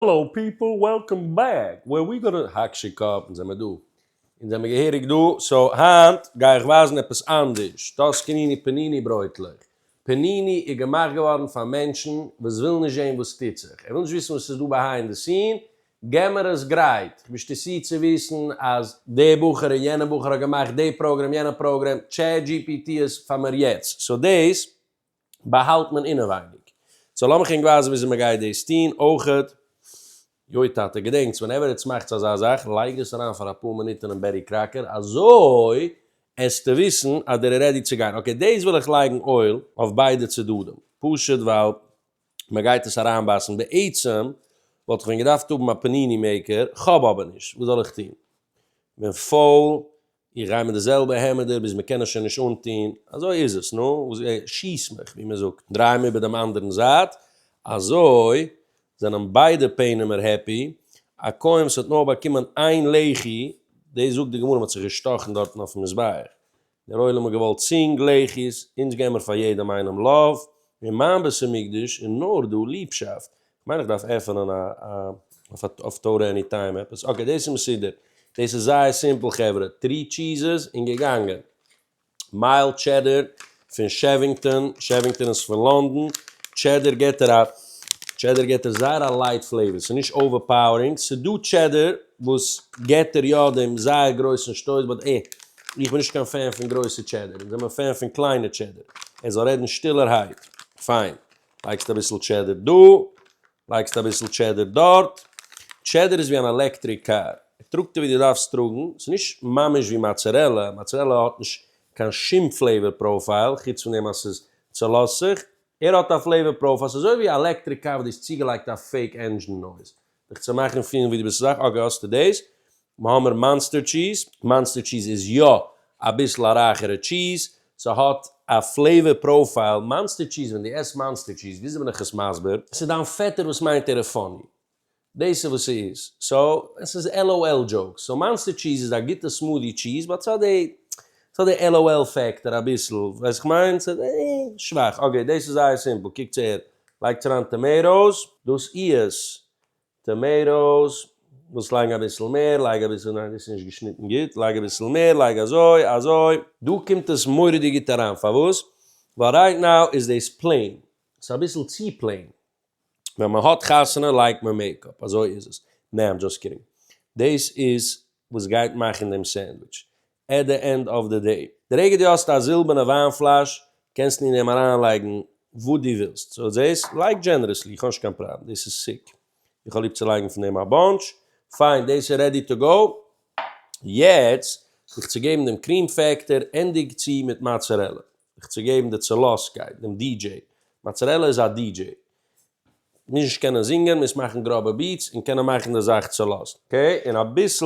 האלאו פיפל וועלקאם בעק ווער ווי גאנע האקשע קאפ אונז זעמער דא אונז זעמער געהעריג דא סאו היינט גיי איך ווייזן עפעס אנדערש טאסקעניני פעניני ברויטלעך פעניני איז געמאכט געווארן פאר מענטשן וואס ווילן נישט זעהן וואס טוט זיך ער וויל נישט וויסן וואס איז דא ביהיינד די סין געמער עס גרייט איך בין שטעסי צו וויסן אז די בחור און יענע בחור האט געמאכט די פראגרעם יענע פראגרעם טשעט דזשי פי טי איז פאר מיר יעצט סאו דאס. באהאלט מען אינעווייניג. סאו לאמיך ענק ווייזן וויאזוי מ'גייט דאס טון אויכעט. יוי טאטע, געדענקטס, ווענעווער איטס מאכטס אזא זאך, לייגט עס אריין פאר אפאר מינוט אינעם בעטי קראקער, אזוי עסטו וויסן אז דער איז רעדי צו גיין. אקעי, דאס וויל איך לייגן אויל אויף ביידע צדדים, פשוט ווייל מ'גייט עס אריינבייסן. בעצם וואלט איך ווען געדארפט האבן א פניני מעיקער, כ'האב אבער נישט, וואס זאל איך טון? כ'בין פויל, איך גיי מיט די זעלבע העמעדער ביז מען קען עס שוין נישט אנטון, אזוי איז עס, נו וואס גיי איך, שיס מיך, ווי מען זאגט, דריי מיר איבער דעם אנדערן זייט, אזוי זענען ביידע פענעמער העפי, א כהן וואס האט נאר באקומען איין לחי, דאס זאגט די גמרא מ'האט זיך געשטאכן דארטן אויפן מזבח, דער עולם האט געוואלט צינג לחי'ס, אונז געבן מיר פאר יעדעם איינעם לאוו, אין מיין בית המקדש איז נאר דא ליבשאפט, מיין איך דארף עפענען א אויף טורא עני טיים עפעס, אקעי דאס איז מסודר, דאס איז זייער סימפל חברה, טרי טשיזעס און געגאנגען, מייל טשעדער פון שעווינגטאן, שעווינגטאן איז פון לאנדאן, טשעדער געט ער א טשעדער געט ער זייער א לייט פלעיווער, ס'איז נישט אווערפאוערינג, ס'איז דא טשעדער וואס געט ער יא דעם זייער גרויסן שטויס באט אה, איך בין נישט קיין פען פון גרויסע טשעדער, אונז זעמער פען פון קליינע טשעדער, ער זאל רעדן שטילערהייט, פיין, לייגסט אביסל טשעדער דא, לייגסט אביסל טשעדער דארט, טשעדער איז ווי אן עלעקטריק קאר, ער טראגט ווי דו דארפסט טראגן, ס'איז נישט ממש ווי מאצערעלע, מאצערעלע האט נישט קיין שום פלעיווער פראופייל, חוץ פון דעם אז ס'איז צולאזט זיך, ער האט א פלעיווער פראופייל, ס'איז אזוי ווי א עלעקטריק קאר וואס דו האסט צוגעלייגט א פעיק ענדזשין נויז, דיך צו מאכן פילן ווי דו ביסט סאך, אקעי האסטו דאס, נו האמער מאנסטער טשיז, מאנסטער טשיז איז יא אביסל א רייכערע טשיז, ס'האט א פלעיווער פראופייל, מאנסטער טשיז ווען דו עסט מאנסטער טשיז, וויאזוי בין איך עס מסביר? ס'איז דיין פעטער וואס מיינט ער איז פאני, דאס איז וואס ס'איז, סאו עס איז LOL דזשאוק, סאו מאנסטער טשיז איז א גוטע סמודי טשיז, באט ס'האט די סא די LOL פעקטאר אביסל ווייס איך מיין סא אה שוואך אקעי דאס איז זייער סימפל קוקטס אהער לייגטס אריין טאמעיטאס. דאס איז טאמעיטאס ווילסט לייגן אביסל מער לייג אביסל ניין דאס איז נישט געשניטן גוט לייג אביסל מער לייג אזוי אזוי. דא קומט עס מורא'דיג גוט אריין פארוואס ווייל רייט נאו איז דאס פלעין סאיז אביסל צו פלעין ווען מען האט חתונה לייגט מען מעיקאפ אזוי איז עס נעה איים דזשאסט קידינג דאס איז וואס גייט מאכן דעם סענדוויטש עט די ענד אף די דעי, די רגע דו האסט א זילבערנע וויין פלאש קענסטו אין אים אריין לייגן וואס דו ווילסט, סאו זעהסט, לייג דזשענערעסלי, איך האב נישט קיין פראבלעם, דאס איז סיק, איך האב ליב צו לייגן פון דעם א באנטש, פיין, דאס איז רעדי טו גאו, יעצט זיך צו געבן דעם קריעם פעקטער, ענדיג צו מיט מאצערעלע, זיך צו געבן די צעלאסקייט, דעם די דזשעי, מאצערעלע איז א די דזשעי, מוז נישט קענען זינגען, מוז מאכן גראבע ביעטס, און קענען מאכן די זאך צעלאזט, אקעי, און אביסל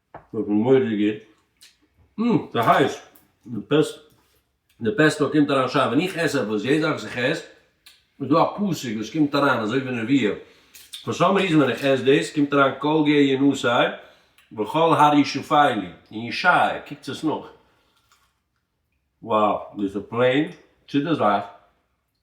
איך בין מודי גוט. אום, ס'איז הייס. די פעסט, די פעסטא קומט אריין שיין. ווען איך עס עפעס, יעדע זאך וואס איך עס, איז דא א פאסיג וואס קומט אריין, אזוי ווי נערוויע. פאר סאם ריזען ווען איך עס דאס, קומט אריין כל גיא ינוסי, וכל הר ישופיי לי. און ישעי', קוקטס עס נאך. וואו, דאס איז פלעין צו די זאך.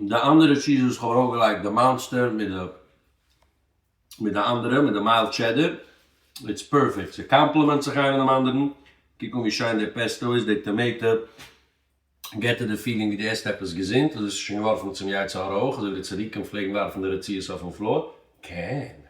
די אנדערע טשיז וואס כ'האב ארויפגעלייגט די מאנסטער מיט די מיט די אנדערע מיט די מיילד טשעדער איטס פערפעקט ס' קאמפלעמענט זיך איינער דעם אנדערן קוק אן ווי שיין די פעסטא איז די טאמעיטע געט דיר די פילינג ווי די עסט עפעס געזונט אזוי האסטו שוין געווארפן צום יצר הרע אויך אזוי ווי די צדיקים פלעגן ווארפן די רציעות אויפן פלאר קען